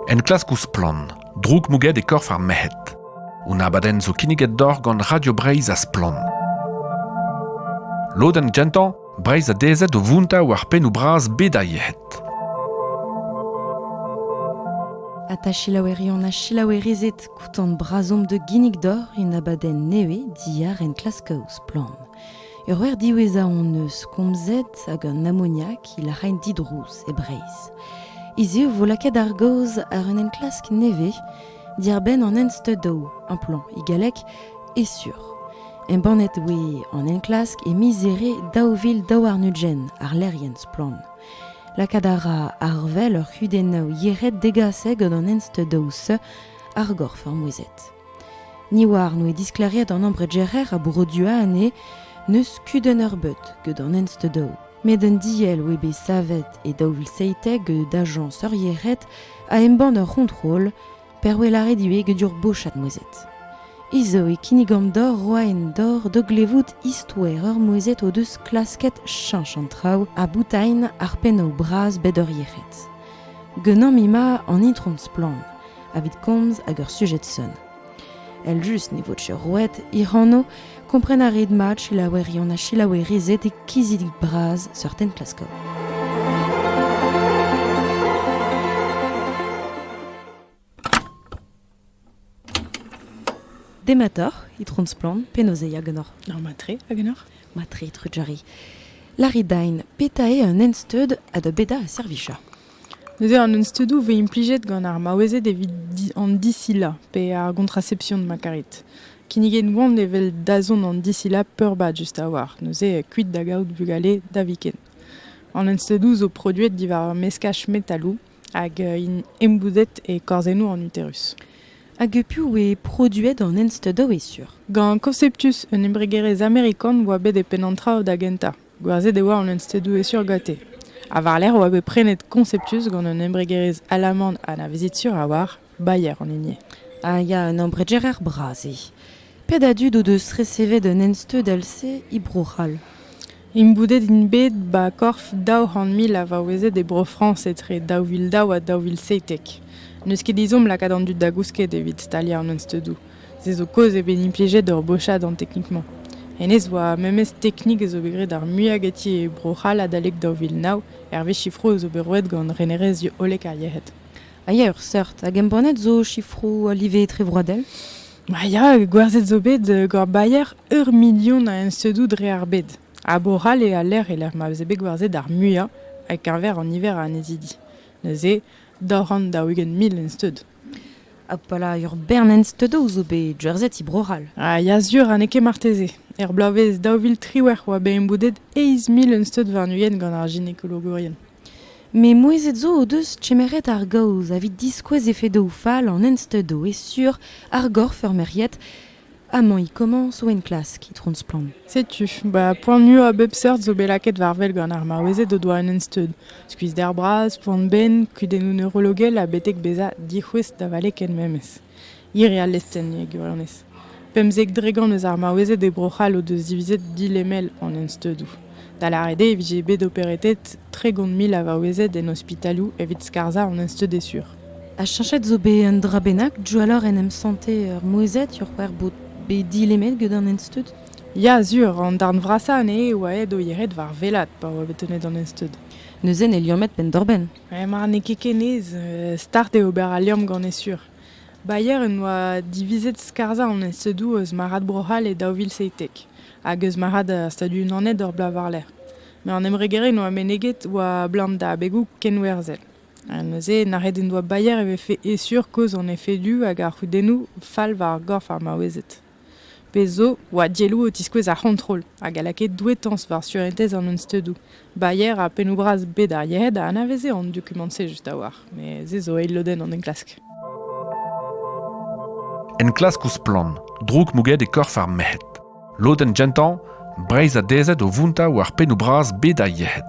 Enklask ouzh Splann! droukmouget e korf ar merc'hed. Un abadenn zo kinniget deoc'h gant Radio Breizh ha Splann. Lodenn gentañ, Breizh a dezhet o vountañ war pennoù bras bed ar yec'hed. Ha ta selaoueri on a selaouerizet koutant brazomp de ginnig d'or un abadenn nevez diar enklask ouzh Splann! Ur wer diwezhañ hon eus komzet hag an amoniak il a raent didrouz e Breizh. Hiziv vo lakaet ar gaoz àr un enklask nevez diàr-benn an ensteudoù amplant e galleg e sur. Embannet oe an enklask e miz Here daou vil daou warn-ugent àr lec'hienn Splann. Lakaat a ra arvel ur c'hudennoù yec'hed degaset gant an ensteudoù-se ar gorf ar mouezhet. Ni oar n'oe diskleriet an ambregerer a Bro-Dua anê n'eus kudenn eurbeud gant an ensteudou. Met un diell oe bet savet e daou vil seitek gant ajañs eurieret a embann ur c'hontrol per oe lâret ivez get ur bochad mouezhet. Hi zo e kinnigomp deoc'h roa en dor da glevout istoer ur mouezhet o deus klasket cheñch an traoù ha boutailh ar pennoù bras bet eurieret. Genomp ima an itron Splann. evit komz hag ur sujed-sonn. Eljust ne vo roet hec'h anv, kompren a rit mat selaouerion ha selaouerized e kizidik bras seurten klasko. Demator, itron splan, penozeiak genor. Ar matre, a genor? Matre, trujari. Laridain, petae un ensteud a da beda a servicha. Neuze an unsteudoù a vez implijet gant ar maouezed evit an disilañ pe ar gontraception ma karit. Kinniget oant evel dazont an disilañ peurbad just a-walc'h, neuze kuit da gaout vugale da viken. An unsteudoù zo produet diwar meskaj metaloù hag int embouzet e korzennoù an uterus. Hag piv eo produet an unsteudoù e sur? Gant Conceptus, un embregerezh amerikan, oa bet e penn an traoù da gentañ. Gwerzhet e oa an unstêdoù-hesur ganti, ha war-lerc'h e oa bet prenet Conceptus gant un embregerezh alaman anavezet-sur a-walc'h, Bayer an hini. Ah ya, un embregerer bras eo. Pet a dud o deus resevet un ensteudell-se e Bro-C'hall? Imboudet int bet 'ba korf daou c'hant mil a vaouezed e Bro-Frañs etre daou vil daou ha daou vil seitek. N'eus ket ezhomm lakaat an dud da gousket evit staliañ an unsteudoù. Se zo kaoz eo bet implijet ur bochad an teknik-mañ. Hennezh 'oa memes teknik a zo bet graet ar muiañ ganti e Bro-C'hall adalek daou vil nav, hervez sifroù zo bet roet gant renerezhioù hollek ar yec'hed. A ya ur seurt. Hag embannet zo sifroù a live etrevroadel Ah ya, gwerzhet zo bet euh, gant Bayer ur milion a ensedoù dre ar bed. Ha Bro-C'hall eo a lec'h e lec'h ma veze bet gwerzhet ar muiañ, ha keñver an niver a annezidi. Neuze, daou c'hant daou-ugent mil ensteud. Abalamour Bernenz Teudou zo bet jerseti Bro-C'hall. Ah ya sur, ha n'eo ket marteze. Er bloavezh daou vil triwec'h oa bet emboudet eizh mil un steud warn-ugent gant ar ginekologourien. Met mouezhet zo o deus kemeret ar gaoz evit diskouez efedoù fall an ensteudoù e sur ar gorf ur merc'hied Amañ e komañs o enklask, itron Splann. Setu, ba poan-ua a bep seurt zo bet lakaet war wel gant ar maouezed o doa un ensteud. Skuizder bras, poan-benn, kudennoù neurologel ha betek bezañ dic'houest da vale ken memes. Hir eo al lestenn e gwirionez. Pemzek dregont eus ar maouezed e Bro-C'hall o deus divizet dilemel an ensteudoù. Da lâret eo e vije bet operetet tregont mil a vaouezed en ospitalioù evit skarzhañ an ensteud e sur. Ha cheñchet zo bet un dra bennak diwalloc'h en em santer ur mouezhad c'hwec'h bod bet dilemet gant an ensteud Ya, sur, an darn vrasañ anezhe eo aet o yec'hed war welat pa oa bet tennet an ensteud. Neuze ne liammet penn-doc'h-benn. Eh, mar n'eo ket kenez, start eo ober al liamm gant e sur. Bayer en doa divizet skarzhañ an ensteudoù eus marc'had Bro-C'hall e daou vil seitek hag eus marc'had ar Stadoù-Unanet ur bloaz war-lerc'h. Met an embregerezh en doa meneget oa 'blam da abegoù kenwerzhel. Ha neuze, nac'het en doa Bayer e vefe e-sur kozh an efedoù hag ar c'hudennoù fall war ar gorf ar maouezed. Pezh zo, oa dielloù o tiskouez ar c'hontrol hag a lakae douetañs war surentez an unsteudoù. Bayer ha pennoù-bras bet ar yec'hed a anaveze an dokumant-se just a-walc'h, met se zo eil lodenn an enklask. Enklask ouzh splann, droug mouget e korf ar merc'hed. Lodenn gentañ, Breizh a dezhed o vountañ war pennoù bras bed ar yec'hed.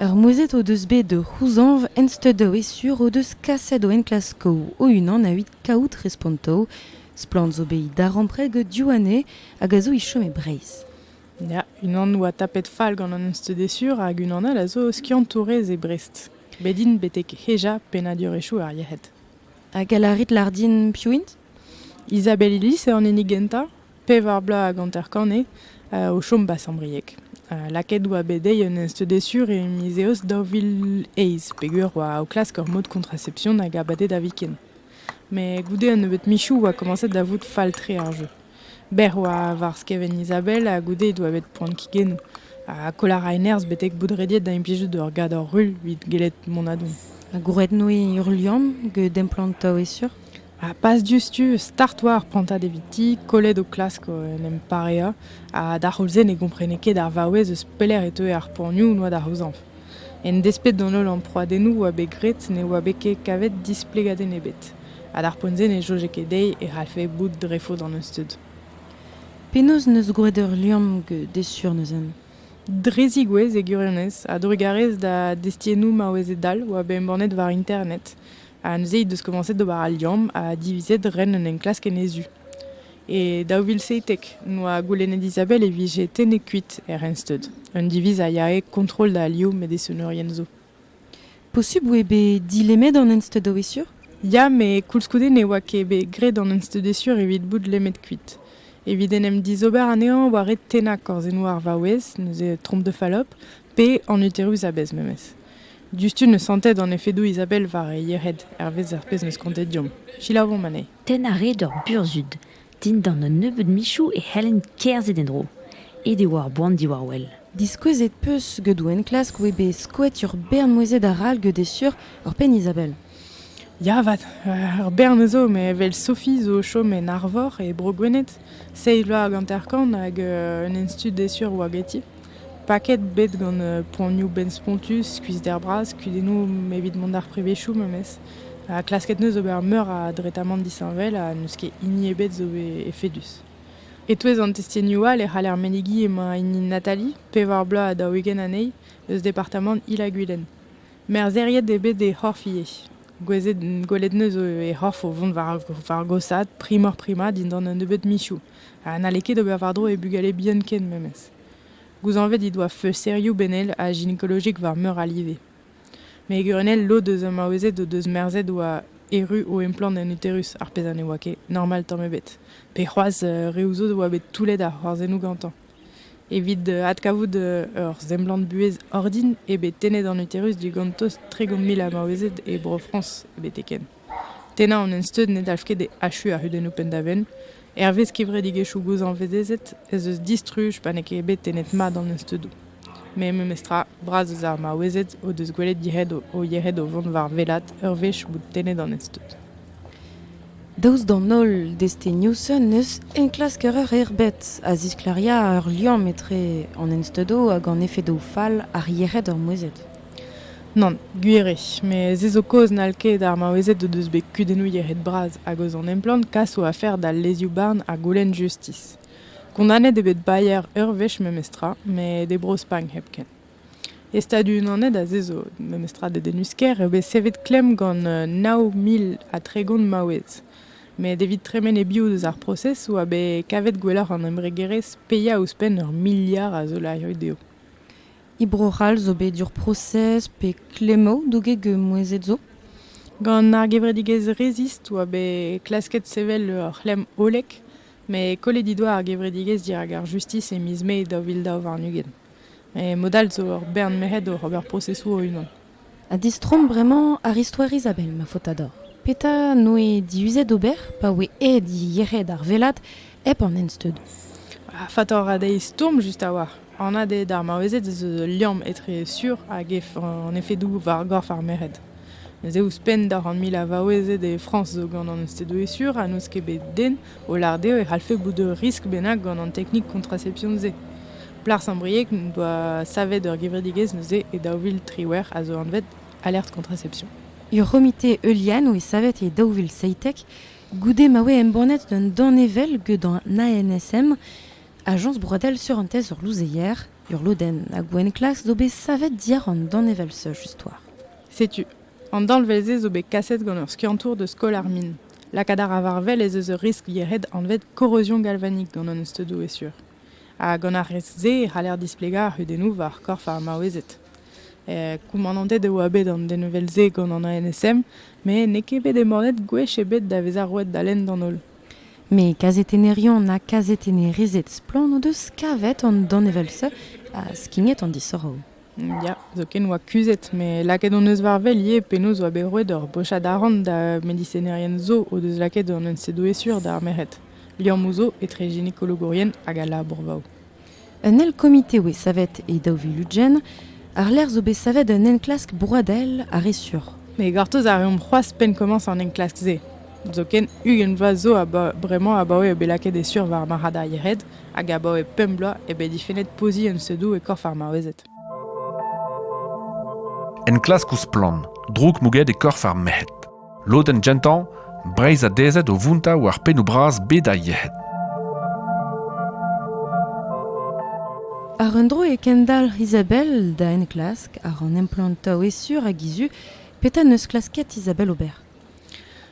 Ur mouezhet o deus bet o c'houzañv ensteudoù e sur o deus kaset o enklaskoù o-unan evit kaout respontoù. Splann zo bet darempred gant Diouane hag a zo e chom e Breizh. Ya, unan oa tapet fall gant an ensteudesur hag unan all a zo skiantourez e Brest. Bet int betek hejañ pennadurezhioù ar yec'hed. Ha gall a rit lar din piv int? Isabelle Illis eo an hini gentañ, pevar bloaz hag hanter-kant eo, o chom 'ba Sant-Brieg. lakaet 'oa bet dezhi un ensteudez sur e miz Eost daou vil eizh peger 'oa o klask ur mod kontracepsion hag abadenn da viken. Met goude un nebeud michoù 'oa komañset da vout fall-tre ar jeu. Bec'h oa war skevent Izabel ha goude he doa bet poan kigennoù. Ha koll a rae nerzh betek bout rediet da implijout ur gador rull evit gellet mont a-dont. Ha gwrednoe ruilhan get emplantañ e-sur? Ha pas diouzhtu, start oa ar prantad eviti, kollet o klask en em pareañ. Ha d'ar c'houlz-se ne gomprene ket ar vaouez eus pelec'h e teue ar poanioù 'noa da c'houzañv. En desped d'an holl amprouadennoù 'oa bet graet ne oa bet ket kavet displegadenn ebet, ha d'ar poent-se ne soñje ket dezhi e c'hallfe bout dre faot an euzhtud. Penaos 'neus gwraet ur liamm desur neuze? Dre zigouez e gwirionez, a-drugarez da destiennoù maouezed all 'oa bet embannet war internet, ha neuze he deus komañset d'ober al liamm ha divizet ren un enklask en he zu. E daou vil seitek noa goulennet Isabelle e vije tennet kuit er Rensteud, un diviz a yae kontrol da alioù medesonerien zo. Posubl eo bet dilemmet an Ensteud a-wezhur? Ya, met koulskoude ne oa ket bet graet an Ensteudesur evit bout lemmet kuit. Evit en em dizober anezhañ war red tennañ korzennoù ar vaouez, neuze tromp de falop, pe an uterus a-bezh memes. Diouzhtu ne santet an efedoù Isabelle war he yec'hed, hervez ar pezh 'm eus kontet deomp. Selaouomp anezhe. Tenn a rae ur burzhud. Dindan un nebeud michoù e c'hellent kerzhet en-dro. Aet e oa ar boan diwar-wel. Diskouezet 'peus geudou enklask 'oe bet skoet ur bern mouezed arall geut eo sur, ur penn Izabel. Ya 'vat, ur bern a zo, met 'vel Sophie zo o chom en Arvor, e Bro-Gwened. Seizh vloaz hag hanter-kant, hag un institut d'e sur 'oa ganti. Paket bet gant poanioù benn-spontus, skuizhder-bras, kudennoù evit mont d'ar prevezioù memes. Ha klasket 'neus ober meur a dretamant disheñvel ha n'eus ket hini ebet zo bet efedus. E-touez an testenioù all e c'haller menegiñ emañ hini Nathalie, pevar bloaz ha daou-ugent anezhi, eus departamant Il-ha-Gwilen. Merzheriet eo bet he c'horf ivez. Gwelet 'neus he c'horf o vont war gosaat primoc'h-prima dindan un nebeud michoù. ha n'halle ket ober war-dro e bugale bihan ken memes. Gouzañvet he doa feusterioù benel ha ginekolojik war meur a live. Met gwrionell lod eus ar maouezed o deus merzet oa erru o emplant en uterus, ar pezh ha ne oa ket normal tamm ebet. Pe c'hoazh euh, reoù zo oa bet toullet ar c'hoarzhennoù gantañ. Evit euh, adkavout euh, ur semblant-buhez ordin eo bet tennet an uterus digant tost tregont mil a maouezed e Bro-Frañs betek-henn. Tennañ an ensteud ne dalv ket achuiñ ar c'hudennoù penn-da-benn. Hervez kevredigezhioù gozhañvezezet ez eus distruj pa n'eo ket bet tennet mat an ensteudoù. Met memestra, bras eus ar maouezed o deus gwelet yec'hed o yec'hed o vont war wellaat ur wech bout tennet an ensteud. Daoust d'an holl destenioù-se n'eus enklasker eur erbet a zisklêria ur liamm etre an ensteudoù hag an efedoù fall ar yec'hed ur mouezhet. Nann, gwir eo, met se zo kaoz n'hall ket ar maouezed o deus bet kudennoù yec'hed-bras hag eus an emplann kas o afer d'al lezioù-barn ar goulenn justis. Kondanet eo bet Bayer ur wech memestra, met e Bro-Spagn hepken. E Stadoù-Unanet ha se zo memestra dedennus-kaer eo bet savet klemm gant nav mil ha tregont maouez. Met evit tremen e-biou deus ar prosez oa bet kavet gwelloc'h an embregerezh paeañ ouzhpenn ur miliard a zolarioù dezho. E Bro-C'hall zo bet ur prosez pe klemmoù douget gant mouezhed zo. Gant ar gevredigezh Resist oa bet klasket sevel ur c'hlemm hollek met kollet he doa ar gevredigezh dirak ar justis e miz Mae daou vil daou warn-ugent. Mod all zo ur bern merc'hed oc'h ober prosesoù o-unan. Ha distroomp bremañ àr istoer Izabel, ma faotador. Petra 'noe diuzet ober pa oe aet yec'hed ar vellad hep an ensteudoù? Ha faotoc'h ha dezhi stourm just a-walc'h. Anat eo d'ar maouezed ez eus ul liamm etre sur hag an efedoù war gorf ar merc'hed. Neuze ouzhpenn d'ar c'hant mil a vaouezed e Frañs zo gant an ensteudoù sur ha n'eus ket bet den O lâret eo e c'hallfe bout ur riskl bennak gant an teknik kontraception-se. Plas ar brieg n'en doa savet ur gevredigezh neuze e daou vil triwec'h a zo anvet Alerte Contraception. Ur c'homite heuliano e savet e daou vil seitek, goude ma voe embannet un danevell get an ANSM, Ajañs broadel surentez ur louzeier, ur lodenn, ha gouenn-klas zo bet savet diàr an danevell-se just war. Setu, An danvez-se zo bet kaset gant ur skiantour deus Skol ar Min. Lakaat a ra war-wel ez eus ur riskl yec'hed anvet korrozion galvanik gant an steudoù e-sur. Ha gant ar riskl-se e c'haller displegañ ar c'hudennoù war korf ar maouezed. Koumanantet e oa bet an denvel-se gant an ANSM met n'eo ket bet embannet gwech ebet da vezañ roet da lenn d'an holl. Met kazetenerion ha kazetennerezed splann o deus kavet an danevell-se ha skignet an disoc'hoù. Ya, zoken oa kuzhet, met lakaet hon eus war wel ivez penaos oa bet roet hor bochad arc'hant da medisenerien zo o deus lakaet an ensedoesiour d'ar merc'hed, liammoù zo etre ginekologourien hag al labourvaoù. Un eil komite oa savet e daou vil ugent, àr-lerc'h zo bet savet un enklask broadel ha re sur. Me gortoz a reomp c'hoazh penn komañs an enklask-se. Zoken ugent vloaz zo bremañ abaoe eo bet lakaet e sur war marc'had ar yec'hed hag abaoe pemp bloaz eo bet difennet poziñ unsedoù e korf ar maouezed. Enklask ouzh splann, droug mouget e korf ar merc'hed. Lodenn gentañ, Breizh adezet o vountañ war pennoù bras bed ar yec'hed. Ar un dro e kendalc'h Isabelle da enklask àr an emplantañ e sur hag he zu. Petra 'neus klasket Isabelle ober?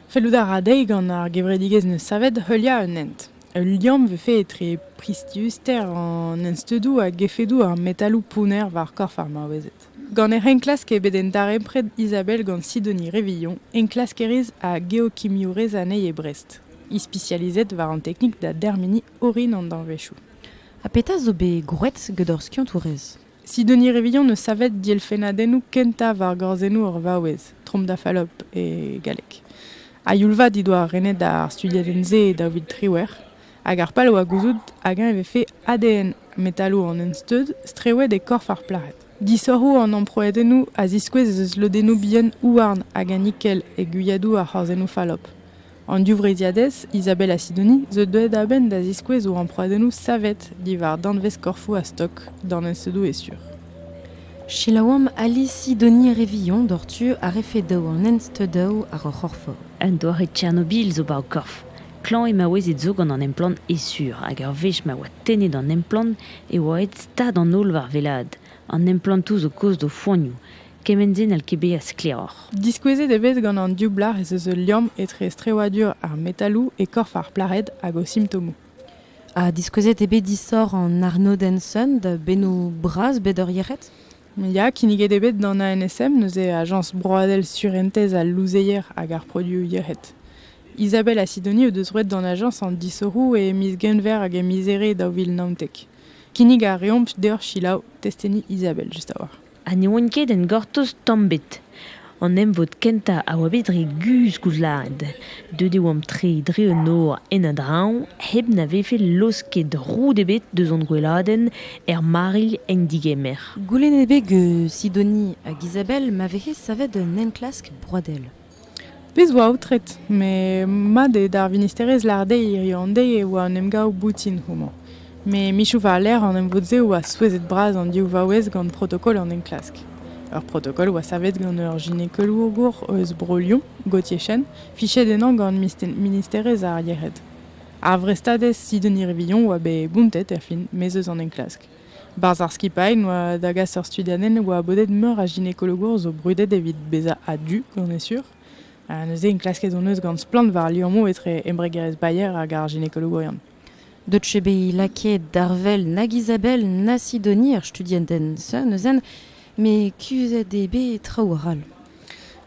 Fellout a ra dezhi gant ar gevredigezh 'neus savet heuliañ un hent. Ul liamm 'vefe etre priziuster an ensteudoù hag efedoù ar metaloù pounner war korf ar maouezed. Gant hec'h enklask eo bet darempred Isabelle gant Sidonie Révillon, enklaskerez ha geokimiourez anezhi e Brest, ispisializet war an teknik da dermeniñ orin an danvezioù. Ha petra zo bet gwraet gant hor skiantourez? Sidonie Revillan eus savet dielfennadennoù kentañ war gorzennoù ur vaouez, Trompe da Fallope e galleg. A youl-vat he doa renet ar studiadenn-se daou vil triwec'h, hag ar pal a oa gouzout hag-eñ e vefe ADN metaloù an ensteud strewet e korf ar plac'hed. Disoc'hoù an amprouedennoù a ziskouez ez eus lodennoù bihan houarn hag a nikel e gwiadoù ar c'horzennoù fallope. An divreizhiadez Isabella Sidoni zo deuet a-benn da ziskouez o amprouadennoù savet diwar danvez-korfoù a-stok danvezedoù e-sur. Selaouamp Ali Sidoni re vihan doc'htu a refe daou an ensteudaoù àr ur c'horfor. Un doare Tchernobil zo 'ba ho korf. Klañv eo maouezed zo gant an emplann e-sur hag ur wech ma oa tennet an emplann e oa aet stad an holl war wellaat. An emplantoù zo kozh d'o foanioù. Kement-se n'hall ket bezañ sklaeroc'h. Diskouezet eo bet gant an div blac'h ez eus ul liamm etre strewadur ar metaloù e korf ar plac'hed hag o simptomoù. Ha diskouezet eo bet disoc'h an arnodenn Sun da bennoù bras bet ur yec'hed? Ya, kinniget eo bet d'an ANSM, neuze Ajañs broadel surentez al louzeier hag ar produoù yec'hed. Isabelle ha Sidoni o deus roet d'an ajañs an disoc'hoù e miz Genver hag e miz Here daou vil naontek. Kinnig a reomp deoc'h selaou testeni Isabelle just a-walc'h. ha ne oant ket en gortoz tamm ebet. An emvod kentañ a oa bet re guzh koulzad. Deuet e oamp tre dre un nor en a-dreñv hep na vefe laosket roud ebet deus hon gweladenn er marilh en digemer. Goulennet eo bet gant Sidonie hag Isabelle ma vehe savet un enklask broadel. Pezh 'oa aotret, met mat eo d'ar vinisterezh lâret dezhi hiziv an deiz e oa un emgav boutin houmañ. Met michoù war-lerc'h an emvod-se a oa souezhet-bras an div vaouez gant protokol an enklask. Ur protokol oa savet gant ur ginekolour eus Bro-Lyon, Gautier-Chen, fichet ennañ gant Ministerezh ar Yec'hed. Ar vrestadez Sidonie Rivilhon oa bet bountet er fin, maez eus an enklask. Barzh ar skipailh oa da gas ur studiadenn oa bodet meur a ginekologour zo brudet evit bezañ a-du gant e sur. Ha neuze enklasket hon eus gant splann war liammoù etre embregerezh Bayer hag ar ginekologourion. Deuet eo bet lakaet d'arvel nag Isabelle na Sidonie er studiadenn-se neuzen, met kuzhet eo bet traoù arall.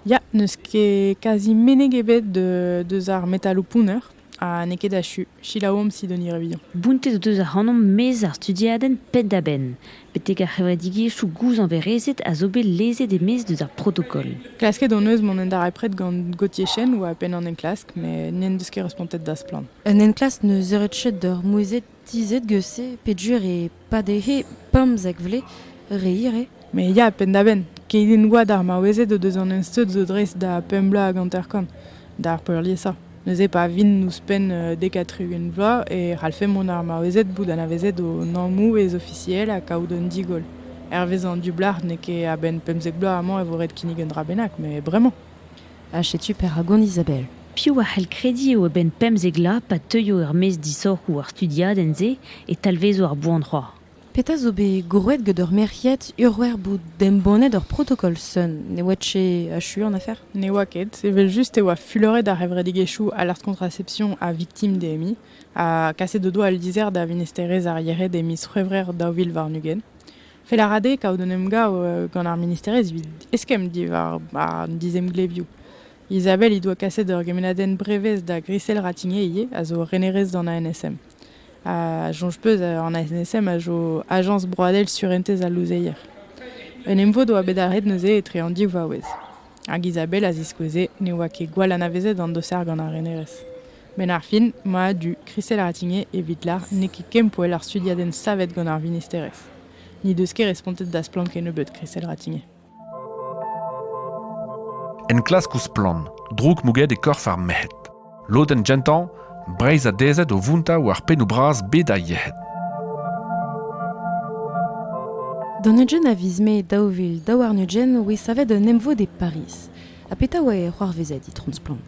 Ya, n'eus ket kazi meneg ebet deus ar metaloù pounner. Ha n'eo ket achu. Selaouomp Sidonie Revilhon. Bountet o deus ac'hanomp maez ar studiadenn penn-da-benn, betek ar c'hevredigezhioù gouzañverezed a zo bet lezet e-maez deus ar protokol. Klasket hon eus mont en darempred gant Gauthier Chen, oa penn an enklask, met n'en deus ket respontet da Splann! Un enklask 'neus eured chet d'ur mouezhed Tizhet geus-se peger e pade'he pemzek vle re ire. Me ya penn-da-benn, keit en oa d'ar maouezed o deus an ensteud zo dreist da pemp bloaz hag hanter-kant, d'ar peurliesañ. Neuze pa vint ouzhpenn dek ha tri-ugent vloaz e c'hallfe mont ar maouezed bout anavezet o nammoù ez-ofisiel ha kaout un digoll. Hervez an dioublard n'eo ket a-benn pemzek bloaz amañ e vo ret kinnig un dra bennak, met bremañ. ha setu perak on Isabelle. Piv a c'hell krediñ eo a-benn pemzek vloaz pa teuio er-maez disoc'hoù ar studiadenn-se e talvezo ar boan-c'hoar? Petra zo bet grouet get ur merc'hiad urc'hwec'h bout embannet ur protokol sun? Ne oa ket achu an afer? Ne oa ket, evel-just e oa fuloret ar c'hevredigezhioù Alertes Contraception ha Victimes-DMI ha kaset o doa al lizher da Vinester-ez ar Yered e miz C'hwevrer daou vil warn-ugent. Fel a ra dezhe kaout un emgav gant ar ministerezh evit eskemm diwar an dizemglevioù. Isabelle he doa kaset ur gemennadenn brevez da Grisel Ratigné ivez, a zo renerez d'an ANSM. A soñj peus, an ANSM a zo ajañs broadel surentez al louzeier. Un emvod oa bet arret neuze etre an div vaouez. Hag Isabelle a ziskoueze ne oa ket gwall anavezet an doser gant ar renerez. Benn ar fin, mad-du Christelle Ratigné evit lar n'eo ket kempoell ar studiadenn savet gant ar vinisterezh. N'he deus ket respontet da Splann Kennebeut Christelle Ratigné. Enklask ouzh Splann, droug mouget e korf ar merc'hed. Lodenn gentañ, Breizh a dezhet o vountañ war pennoù bras bed ar yec'hed. D'an Eugene a viz mae daou vil daou warn-ugent oe savet un emvod e Pariz. Ha petra oa e c'hoarvezet, Itron Splann?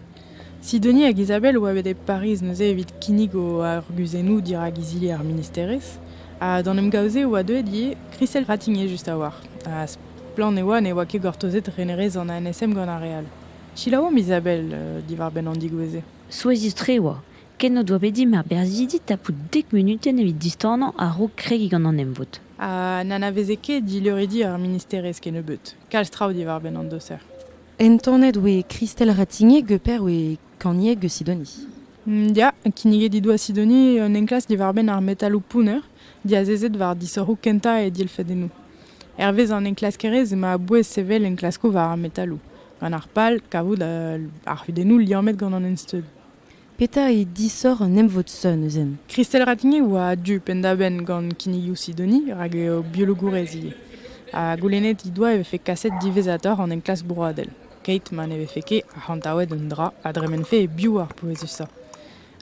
Sidoni hag Izabel oa bet e Pariz neuze evit kinnig o arguzennoù dirak izili ar ministerezh. Ha d'an emgav-se e oa deuet ivez Christelle Ratigné just a-walc'h. Ha splann e oa ne oa ket gortozet renerezh an ANSM gant ar re all. Selaouomp Izabel diwar-benn an digouezh-se. Souezhus-tre e oa ken o doa bet dimp ar berzhidi tapout dek munutenn evit distanañ a-raok kregiñ gant an emvod. Ha n'anaveze ket dileuridi ar ministerezh kennebeut kalz traoù diwar-benn an doser. Entanet oe Kristel Ratignier, geper oe kanieg eus Sidoni. Ya, kinniget he doa Sidoni un enklask diwar-benn ar metaloù pounner diazezet war disoc'hoù kentañ e dilfedennoù. Hervez an enklaskerezh emañ a-bouez sevel enklaskoù war ar metaloù, gant ar pal kavout ar c'hudennoù liammet gant an ensteud. Petra eo disoc'h un emvod sonn neuzen? Christelle Ratigny a oa a-du penn-da-benn gant kinnigoù Sidoni rak eo biologourez ivez. Ha goulennet he doa e vefe kaset diwezhatoc'h an enklask broadel, keit ma ne vefe ket arc'hantaouet un dra a dremenfe e-biou ar pouezusañ.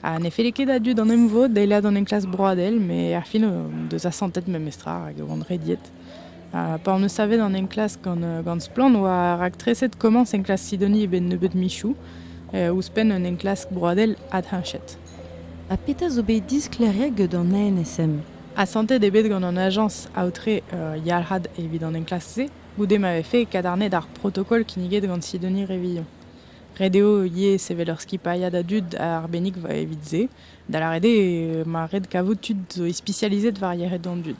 Ha ne felle ket a-du d'an emvod eilañ d'an enklask broadel, met ar fin o deus asantet memestra rak e oant rediet. Pa hon eus savet an enklask gant, gant Splann oa raktreset komañs enklask Sidonie e-benn nebeud michoù, ouzhpenn un enklask broadel adhenchet. Ha petra zo bet disklêriet gant an ANSM? Asantet eo bet gant an ajañs aotre yalc'had evit an enklask-se, goude ma vefe kadarnaet ar protokol kinniget gant Sidonie Revilhon. Ret eo ivez sevel ur skipailhad a dud arbennik evit se, da lâret eo ma ret kavout tud zo ispisializet war yec'hed an dud.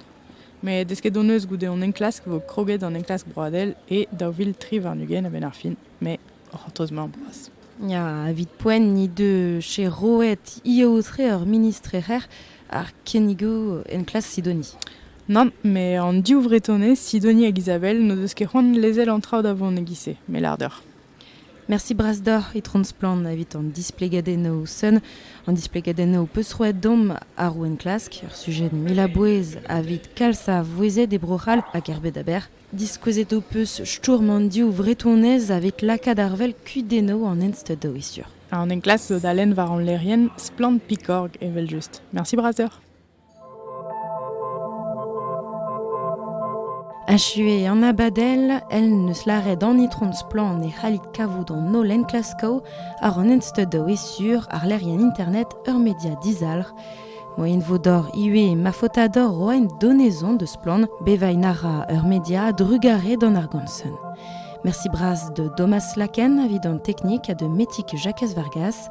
Met desket hon eus goude hon enklask e vo kroget an enklask broadel e daou vil tri warn-ugent a-benn ar fin, mais o c'hortoz-mañ boas. Ya, evit poent he deus che roet he aotre ur ministrer ar kinnigoù enklas Sidoni. Nann, met an div Vretonez, Sidoni hag Isabelle, n'o deus ket c'hoant lezel an traoù da vont e-giz-se, me lâr deoc'h. Mersi bras deoc'h, Itron Splann, evit an displegadennoù sun, an displegadennoù ho peus roet domp àr ho enklask, ur sujet mil a bouez evit kalz a vouezhed e Bro-C'hall hag er bed aber. Diskouezet ho peus stourm an div vretonez evit lakaat ar wel kudennoù an ensteud da sur. An enklask zo da lenn war hon lec'hienn Splann Pikorg evel-just. Mersi bras deoc'h. Achuet an abadell, el n'eus lâret an itron Splann e c'hallit kavout an holl enklaskoù àr an ensteudoù e sur àrlerien internet ur media dizalc'h. Moien vo dor ivez ma faotador roaint donezon de Splann bevain a ra ur media a-drugarez d'an argomsen. Merci bras de Domas Laken evit an teknik ha de Metik Jakez Vargas.